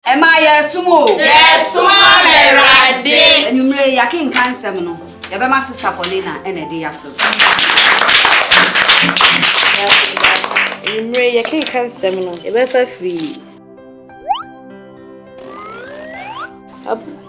Ɛma yɛresom o. Yɛresom Awurade. Anwummere yi yɛakenkan nsɛm no, yɛbɛma Sista Paulina na ɛde afrɛ mu. Anwummere yi yɛkenkan nsɛm no, yɛbɛfa firi.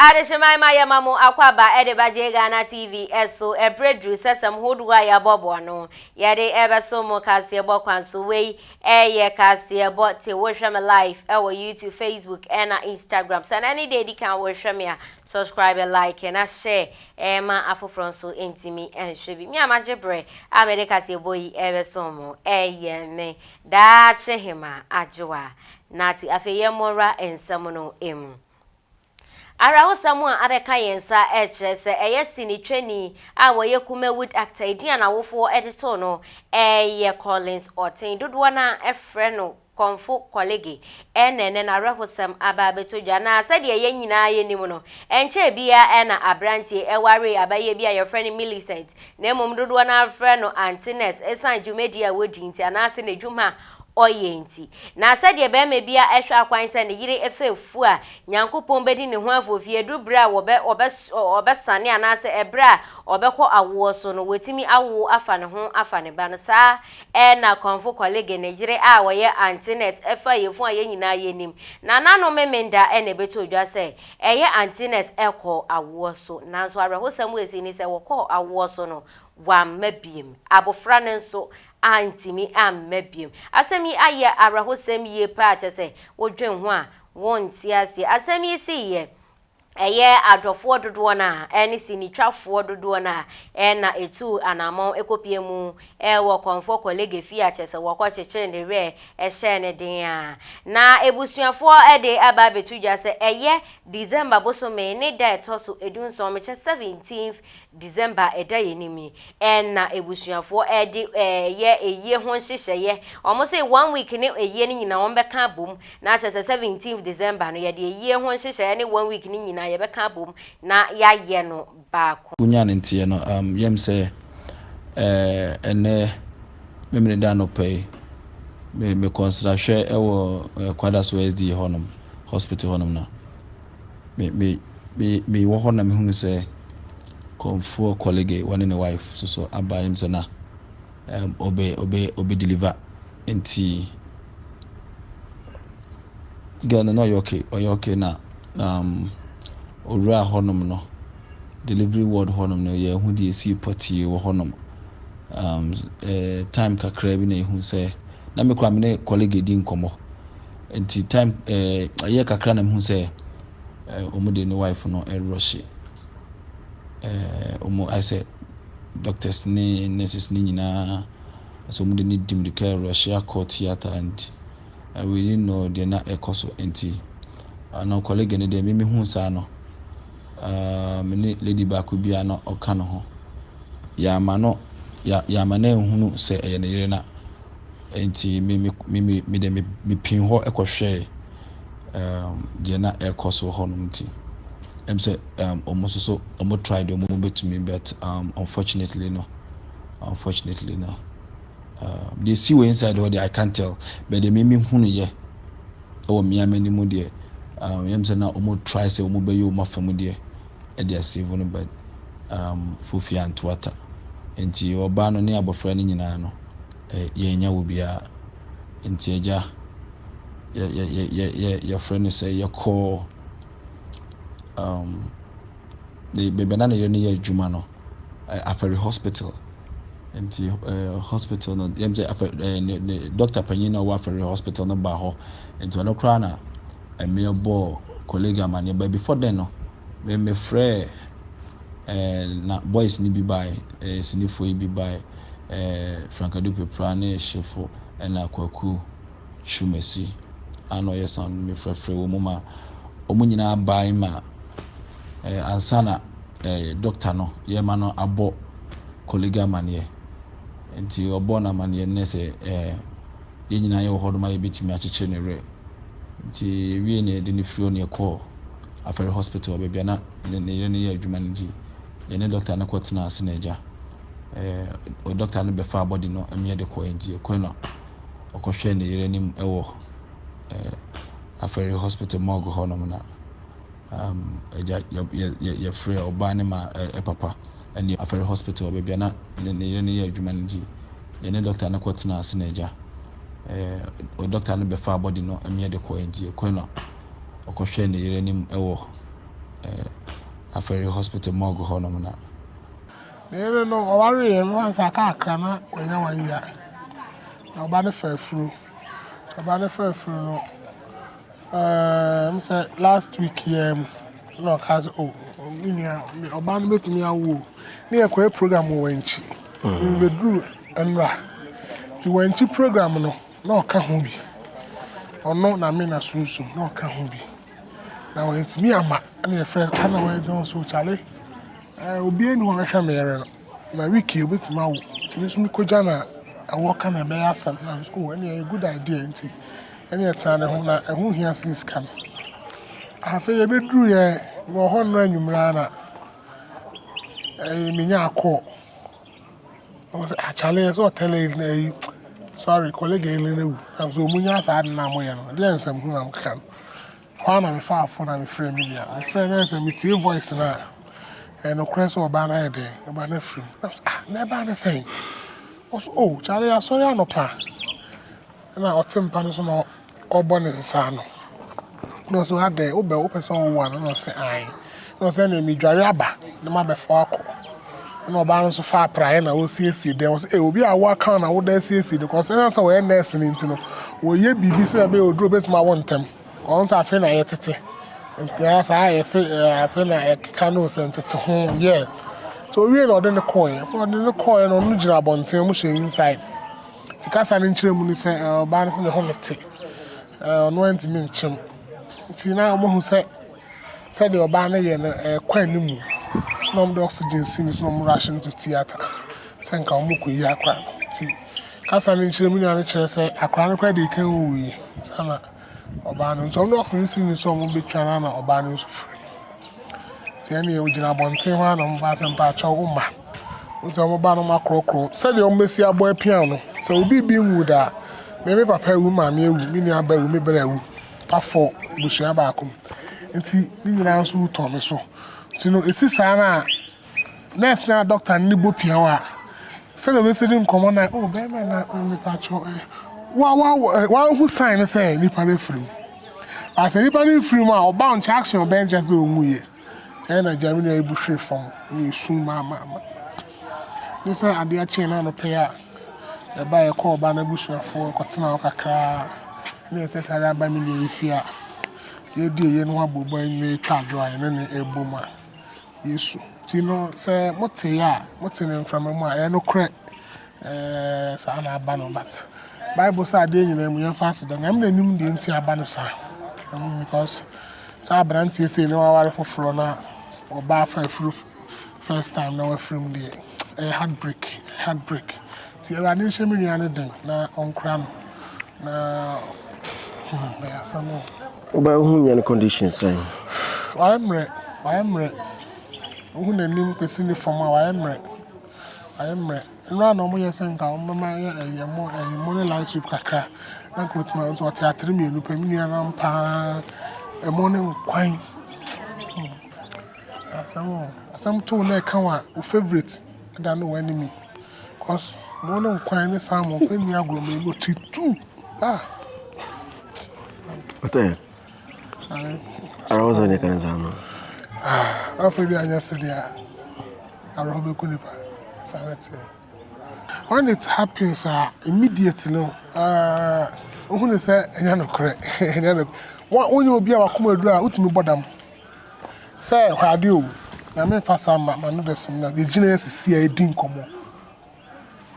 Adehyeman ma yɛma mo akwaba de ba gye Ghana TV so ɛberɛ duru sɛsɛm hodoɔ a yɛabɔboa no yɛde ɛbɛso mo kaseɛbɔ kwan so wei ɛyɛ kaseɛbɔ te wohwɛ me live ɛwɔ YouTube Facebook ɛna Instagram sɛ na ne deɛ ɛdi kan wohwɛ me a Subscribe like na share ɛma afoforɔ nso ntumi nhwɛ bi. Me a magye berɛ a mede kaseɛbɔ yi ɛrebɛsom mo ɛyɛ me daakye hemaa Adwoa Nartey. Afei yɛmmɔra nsɛm no mu. Awerɛhosɛm a abɛka yɛn nsa ɛrekyerɛ sɛ ɛyɛ sini twani a wɔyɛ Kumawood actor, edin a n'awofoɔ de too no ɛyɛ Collins Ɔten. Dodoɔ no ara frɛ no Kɔmfo Kɔlege, Ɛna ɛnnɛ no awerɛhosɛm aba abɛtɔ dwa, na sɛdeɛ yɛn nyinaa yɛnim no, ɛnkyɛɛ biara ɛna aberanteɛ waree abayie bi a yɛfrɛ no Millicent, na mmom dodoɔ no ara frɛ no Auntie Nurse ɛsiane dwumadie a ɔdi nti anaase n'adwuma a ɔyɛ nti. Na sɛdeɛ barima biara hwɛ akwan sɛ ne yere fɛ afu a Nyankopɔn bɛdi ne ho afoofi ɛduru berɛ a wɔbɛ wɔbɛ wɔbɛsane anaase ɛberɛ a ɔbɛkɔ awoɔ so no, watumi awo afa ne ho afa ne ba no saa Erna Kɔmfo Kɔlege ne yere a wɔyɛ Aunty Nurse fa yafunu a yɛn nyinaa yɛnim. Nananom Memenda na ɛbɛtoo dwa sɛ, ɛyɛ Aunty Nurse kɔɔ awoɔ so. Nanso awerɛhosɛm wɔ ɛsii ne sɛ wɔkɔɔ awoɔ so no, wamma biom. Abofra no nso antumi amma biom. Asɛm yi ayɛ awerɛhosɛm yie paa kyɛ sɛ wodwen ho a wonte aseɛ. Asɛm yi siiɛ ɛyɛ adɔfoɔ dodoɔ no ara ne sinitwafoɔ dodoɔ no ara na ɛtuu anammɔn kɔpue mu wɔ Kɔmfoɔ Kɔlege fie a kyerɛ sɛ wɔkɔkyekyere ne werɛ hyɛɛ no den a na abusuafoɔ de aba abɛto dwa sɛ ɛyɛ December bosome ne da a ɛtɔ so dunson, mekyɛ seventeenth December a ɛda yɛn anim yi, ɛn na abusuafoɔ ɛde ɛɛyɛ ayie ho nhyehyɛeɛ. Wɔn se one week ne ayie no nyinaa wɔn bɛka abom, na akyerɛ sɛ seventeenth December no yɛde ayie ho nhyehyɛeɛ ne one week no nyinaa yɛbɛka abom na yɛayɛ no baako. Wonya ne nteɛ no um yam sɛ eh ɛnɛ Memeneda anɔpa yi me mekɔ nsrahwɛ ɛwɔ eh Kwadaso SDA hɔnom hospital hɔnom na. me me me mewɔ hɔ na mehunu sɛ kɔmfoɔ kɔlege wɔne ne wife soso aba yɛm sɛ na um, ɔbɛ ɔbɛ ɔbɛ deliver nti girl no na ɔyɛ okay ɔyɛ okay na um, owura hɔnom no delivery ward hɔnom no yɛ ho deɛ esi pɔtee wɔ hɔnom um, eh, time kakra bi na ehu sɛ na mekura me ne kɔlege di nkɔmɔ. Nti time ɛɛ ɛyɛ kakra na mehu sɛ ɛɛ wɔn de ne wife no ɛrɔhye ɛɛ wɔn ayɛ sɛ doctors ne nurses ne nyinaa ɛsɛ wɔn de ne di mirika ɛrɔhye akɔ theatre and I really know deɛ na ɛkɔ so nti ano colleague no deɛ mimi hu saa no ɛɛ me ne lady baako biara na ɔka no ho yɛama no yɛama no ehunu sɛ ɛyɛ ne yere na. Enti me me me me me deɛ me me pin hɔ kɔhwɛɛ um, deɛ na ɛrekɔ so hɔ nom nti ɛm sɛ um, wɔn nso so wɔn try deɛ wɔn bɛtumi but um, unfortunately no unfortunately no um, deɛ si wɔ inside hɔ deɛ I can't tell but deɛ mimi hunu yɛ ɛwɔ mmea m'anim deɛ um, yɛm sɛ na wɔn try sɛ wɔn bɛyɛ wɔn afa mu deɛ ɛde asave no but um, fofia ntoata nti ɔbaa no ne abɔfra no nyinaa no yɛnnya wɔ biara. Nti Agya, yɛfrɛ no sɛ yɛkɔ um, baabi a na ne yere no yɛ adwuma no, Afari Hospital. Nti hospital no, yɛm sɛ afɛ ne dɔkta panyin na ɔwɔ Afari Hospital no baa hɔ. Nti ɔno koraa na mmea bɔɔ colleague amanneɛ. But before then no, Me mefrɛɛ ɛɛ na boys no bi bae, ɛɛ sinifoɔ yi bi bae, ɛɛ Frankadu Pepra ne Hyefo ɛna Kwaku Twumasi a na ɔyɛ sound no mefrɛfrɛ wɔn mu ma wɔn nyinaa bae ma ɛɛ ansa na ɛɛ doctor no yɛma no abɔ kɔlega amaneɛ nti ɔbɔ no amaneɛ no sɛ ɛɛ yɛn nyinaa yɛwɔ hɔ nom a yɛbɛtumi akyekyere ne werɛ nti wie ne yɛde ne firi hɔ ne yɛkɔɔ Afɛre Hospital, baabi a na ne yere no yɛ adwuma no nti, yɛne dɔkta no kɔtenaa ase na agya. Ɛɛ dɔkta no bɛfaa bɔdi no mmea de kɔɛ nti ɛkɔɛ na ɔkɔhwɛɛ ne yere anim wɔ ɛɛ Afɛre Hospital morgue hɔnom na um, agya yɛfrɛ ɔbaa ne ma papa ɛne Afɛre Hospital, baabi a na ne yere no yɛ adwuma no nti, yɛne dɔkta no kɔtenaa ase na agya. Ɛɛ dɔkta no bɛfaa bɔdi no mmea de kɔɛ nti ɛkɔɛ na ɔkɔhwɛɛ ne yere anim wɔ Afari Hospital morgue hɔnom na. Ne yere no, ɔwareeɛ no ansa kakra na wanya wɔn yia, na ɔba no faa afuro. Ɔba no faa afuro no, ɛɛm sɛ last week yi ara mu na ɔkaa sɛ, o, oh, me nua, ɔba no bɛtumi awo o. Ne yɛkɔɛ program wɔ Wankyi. Mebɛduru nnora. Nti Wankyi program no, Na ɔka ho bi. Ɔno na me na sunsum na ɔka ho bi. Na wantumi ama ɛna yɛfrɛ no ana wɔagya wɔn so kyale. Ɛɛ obi ani hɔ bɛhwɛ me yere no. Na wiki obetumi awo. Nti me nso mekɔgya no a ɛwɔ ka na ɛbɛyɛ asɛm. Na nso o ɛne ɛyɛ good idea nti ɛne ɛtena ne ho na ɛho hia sen sika no. Afei yɛbɛduru yɛ wɔ hɔ nnora anwummerɛ ara na ɛɛ menya akɔɔ. Ɔsɛ ah Charlie ɛsɛ ɔtɛlɛ yi na yi sorry kɔlege yi na wu na nso ɔmu nya saa ade na mo yɛ no ɛdeɛ nsɛm ho na mo keka no hɔ na mefa afo na mefrɛ me nua mefrɛ na sɛ metie voice no a ɛnokorɛ sɛ ɔbaa no ayɛ dɛn ɔbaa no afirim na sɛ ah na ɛbaa no sɛn ɔsɛ o oh, Charlie asɔre anɔpa na ɔte mpa no so na Ɔbɔ ne nsa ano, na ɔse, Adɛn, wobɛ, wopɛ sɛ ɔwo ano? Na ɔse, Aane. Na ɔse, Ɛneɛ medware aba na mabɛfa wo akɔ. Ɛna ɔbaa no nso faa praeɛ na ɔresiesie dɛm. Ɔse, Ei, obi a wo aka wo na woda asiesie no kɔ. Ɔse, Ɛsiane sɛ wɔyɛ nɛɛse no nti no, wɔyɛ biribi sɛdeɛ ɛbɛyɛ oduro bɛtumi awo ntɛm. Ɔhu sɛ afei na yɛtete. Nti ara saa a yɛse afei na ɛkeka no sɛ ntete ho, yeah. Nti ɔwiee na ɔde no kɔeɛ. Ɛna ɔde no kɔeɛ no, ɔno gyina abɔnten, wɔhyɛ inside. Nti kasa no nkyerɛmu ne sɛ ɔbaa no sɛ ne ho nte, ɔno antumi nkyem. Nti na wɔahu sɛ sɛdeɛ ɔbaa no yɛ no ɛrekɔ anim na wɔde oxygen si no so na wɔn rush no to theatre sɛ nka wɔrekɔyi akora no. Nti kasa no nkyerɛmu nyinaa no kyerɛ sɛ akora no koraa deɛ ɛkan wuiɛ sana Ɔbaa no nso, ɔno ɔse ne sini so a wɔbɛtwa no na ɔbaa no nso firii. Nti ɛneɛ ɔgyina abɔnten hɔ a na wɔbaa sɛ mpaakyɛw wo mma. Wo sɛ wɔbaa no makorɔkorɔ sɛdeɛ wɔbɛsi abɔ apia no. Sɛ obi bi nwu da a, me me papa awu, me maame awu, me nua ba awu, me bra awu. Pa fɔ abusua baako mu. Nti ne nyinaa nso wu tɔ me so. Nti no ɛsi saa no a, Nɛɛse anaa dɔkta no ne bɔ pia wo a, sɛdeɛ ɔbɛsi ne nkɔmmɔ no a, oh, bɛrima na mepatwɔ ɛ. Wa wa wahu sign no sɛ nipa no afiri mu. Ba sɛ nipa no mfiri mu a, ɔba nkyɛ action ɔbɛn kyɛ sɛ ɔnwuiɛ. Sɛ na gya me nua ebu hwere fam ne esu maamaama. Ne sɛ adeɛ akyɛn no anɔpɛ a ɛba ɛkɔ ɔba no abusuafoɔ ɛkɔtena hɔ kakraa ne ɛsɛ sɛ ara aba me nua yi fie a yɛdi ɛyɛ no abobɔ nyina ɛtwa adwo a ɛne ne ɛbɔ mu a Yesu. Nti no, sɛ mote yɛ a, mote no mframa mu a, ɛyɛ nokorɛ. Ɛɛ, saa na aba no, but Bible sɛ adeɛ nyinaa mu yɛmfa aseda, Nyame na nim deɛ nti aba no saa. Mm, because sɛ aberanteɛ sei na waware foforɔ na ɔba afa afiri first time na wafiri mu deɛ, ɛyɛ heartbreak, ɛyɛ heartbreak. Nti Awurade nhyɛ me nua no den na ɔnkora no na hmm, ɛyɛ asɛm o. Wobɛn ho nyɛ no condition sɛn? Wayɛ mmerɛ, wayɛ mmerɛ, wohu n'anim kɔsi ne fam a wayɛ mmerɛ, wayɛ mmerɛ. Nnora na wɔyɛ sɛ nka wɔbɛma ayɛ ɛyɛ ɛmo ɛyɛ ɛmo ne light soup kakra na nka ɔtumi ayɛ nso ɔte atere mmienu pɛ me nua no ampa ara ɛmo ne nkwan asɛm o asɛm too na ɛka wa wo favourite ɛda ne w'animi cause ɛmo ne nkwan ne salmon kɔ nni agorɔ mmienu ɔte two. Ah. What the? Ara wo sɛ kan saa no. Ah, afɔ bi anyɛ sɛ deɛ ara hɔ bɛku nipa. Saa na teɛ. When it happens, uh, immediately, no, uh, who is a yanokre? What when you be our commodore, what me bodam? Sir, how do you? I mean, for some, my mother, some, the genius is here, didn't come on.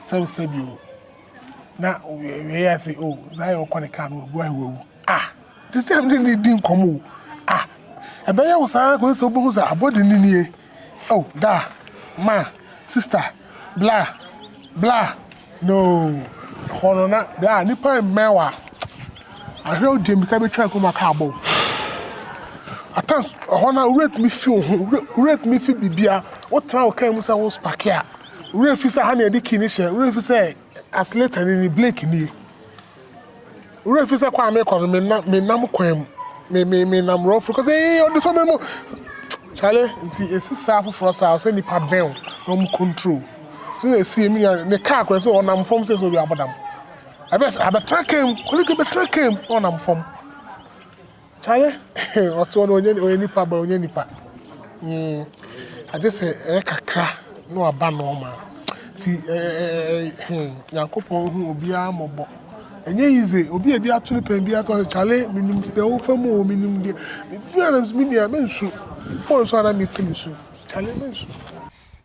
sɛbsɛbi o na wei yɛ sɛ o Zion kɔ ne kaa no wabu ahe wawu ah te sɛ ne ne di nkɔm o ah ɛbɛyɛ wo saa kɔsɛ sɛ wobɛhu sɛ abɔde ne nie o da ma sister bla bla no hɔ no na bla nipa mmɛn wa ahwɛ wo deɛ mika bɛtwa nkɔm aka abɔ atan hɔ no wura tumi fi wo ho wura tumi fi bibia wotena wo kan mu sɛ wo spake a Werɛ fi sɛ ha na yɛde key no hyɛ. Werɛ fi sɛ accelerator no, brake nie. Werɛ fi sɛ kwan a mekɔ no, menam menam kwan mu. Me me menam rough road. Kɔ sɛ ee ɔde fa me mu. Kyale nti esi saa foforɔ saa ɔsɛ nipa bɛn na wɔn control. Sɛ na esi emi nua ne kaa kora sɛ ɔnam fam sɛ sɛ obi abɔdam. Ɛbɛ sɛ abɛtena kaa mu. Kɔlege bɛtena kaa mu na ɔnam fam. Kyale eh ɔte hɔ no ɔnyɛ ɔyɛ nipa but ɔnyɛ nipa mm agye sɛ ɛyɛ kakra na waba normal ti ɛɛ hmm Nyankopɔn hu obiara mmɔbɔ ɛnyɛ easy obi a ebi ato no pɛn bi ato sɛ Kyale menim deɛ wofa mu o menim deɛ me nua mensu woɔ nsu a na mete mesu Kyale mensu.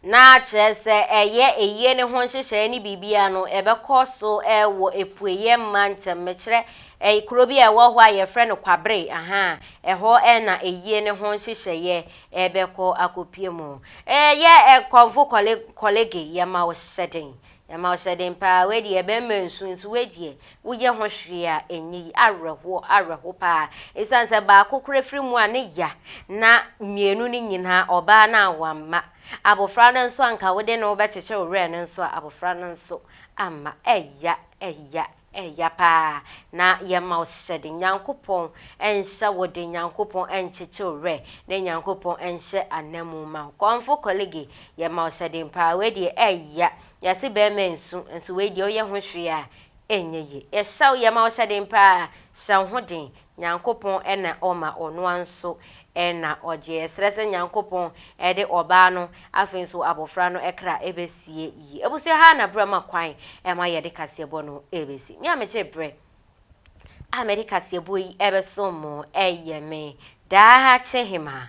na kyerɛ sɛ ɛyɛ ayie no ho nhyehyɛeɛ ne biribiara no, ɛbɛkɔ so wɔ apueeɛ mantam. Mekyerɛ, ɛyɛ kuro bi a ɛwɔ hɔ a yɛfrɛ no Kwabere, aha, ɛhɔ na ayie no ho nhyehyɛeɛ ɛbɛkɔ akɔpue mu. Ɛyɛ Kɔmfo Kɔlege, yɛma wo hyɛden Ɛma ɔhyɛ den paa, wei deɛ bɛrima nsu nso wei deɛ woyɛ ho hwee a ɛnyɛ yi, awerɛhoɔ awerɛho paa ɛsiane sɛ baako koraa firi mu a ne ya na mmienu no nyinaa ɔbaa no a wamma, abɔfra no nso anka wode ne wobɛkyekyere wo werɛ no nso a abɔfra no nso amma, ɛya ɛya. Ɛya paa na yɛma wo sɛde Nyankopɔn nsa wode Nyankopɔn nkyekye wo werɛ ne Nyankopɔn nhyɛ ananmu ma wo kɔmfo kɔlege yɛma wo sɛde paa wei deɛ ɛya yɛse bɛɛma nsu nso wei deɛ woyɛ ho hwee a ɛnyɛ yie yɛhyɛ wo yɛma wo sɛde paa hyɛ wo ho den Nyankopɔn na Ɔma Ɔnoa nso na Ɔgye. Yɛsrɛ sɛ Nyankopɔn de ɔbaa no afei nso abɔfra no kra bɛsie yie. Abusua ha na berɛ ma kwan ma yɛde kaseɛbɔ no bɛsi. Me a megye berɛ a mede kaseɛbɔ yi bɛsom mo yɛ me daakye hemaa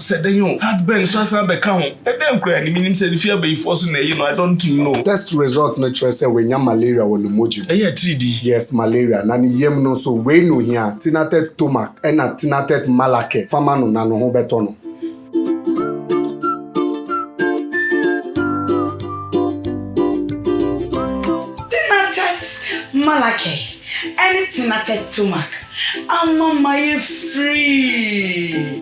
Sɛ dɛn o, heartburn nso asan abɛka ho. Ɛdɛn koraa ni? Minnim sɛ efi abayifoɔ so na ɛye no, I don't know. Test result no kyerɛ sɛ wanya malaria wɔ ne mogya mu. Ɛyɛ atiridii. Yes, malaria. Na ne yam no nso, wei na ohia, Tinatet Tomac ɛna Tinatet Malacair. Fa ma no na ne ho bɛtɔ no. Tinatet Malacair ɛne Tinatet Tomac ama mayɛ free.